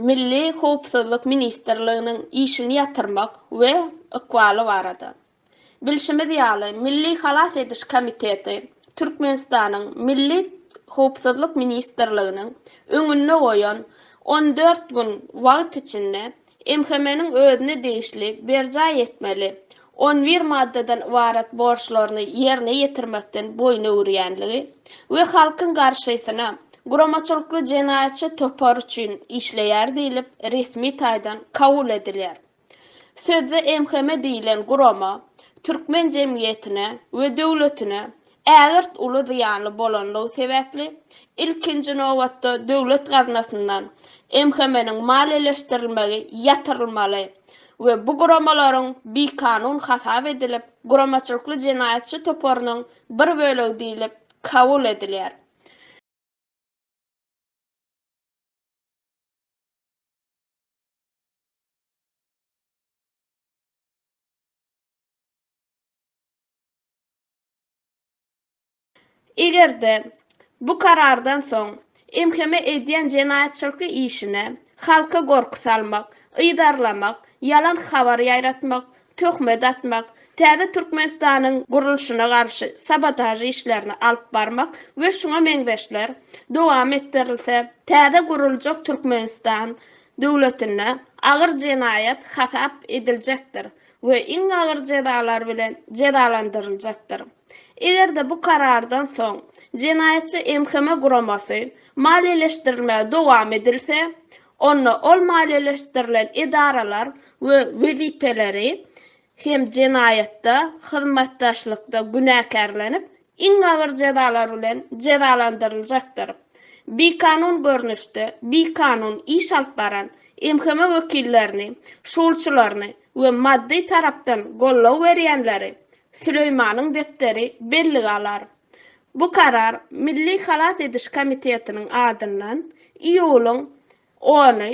Milli howpsuzlyk ministrliginiň işini ýatyrmak we ykbaly barada. Bilşimiz ýaly, Milli halas ediş komiteti Türkmenistanyň Milli howpsuzlyk ministrliginiň öňünde goýan on dört gün wagt içinde MHM-niň özüne degişli berjaý etmeli on bir maddadan ybarat borçlaryny ýerine ýetirmekden boýun öwürýänligi we halkyň garşysyna guramaçylykly jenaýatçy topar üçin işleýär diýlip resmi taýdan kabul edilýär. Sözde MHM diýlen gurama türkmen jemgyýetine we döwletine Ägirt uly zyýanly bolanlygy sebäpli, ilkinji nobatda döwlet gaznasyndan MHM-niň maliýeleşdirilmegi ýatyrylmaly we bu guramalaryň bikanun hasap edilip, guramaçylykly jenaýatçy toparynyň bir bölegi diýlip kabul edilýär. Eger-de, bu karardan soň MHM edýän jenaýatçylky işine halka gorky salmak, yzarlamak, ýalan habar ýaýratmak, töhmet atmak, täze Türkmenistanyň gurluşyna garşy sabotaž işlerini alyp barmak we şuňa meňzeşler dowam etdirilse, täze guruljak Türkmenistan döwletinde agyr jenaýat hasap ediljekdir we iň agyr jezalar bilen jezalandyryljakdyr. Eger-de bu karardan soň jenaýatçy MHM guramasy maliýeleşdirilmegi dowam edilse, onda ol maliýeleşdirilen edaralar we wezipeleri hem jenaýatda hyzmatdaşlykda günäkärlenip, iň agyr jezalar bilen jezalandyryljakdyr. Bikanun görnüşde bikanun iş alyp baran MHM wekillerini, şulçylaryny we maddy tarapdan goldaw berýänleri Süleýmanyň depderi bellige alar. Bu karar Milli halas ediş komitetiniň adyndan iýulyň ony,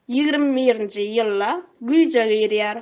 ýigrimi birinji, ýylda güýje girýär.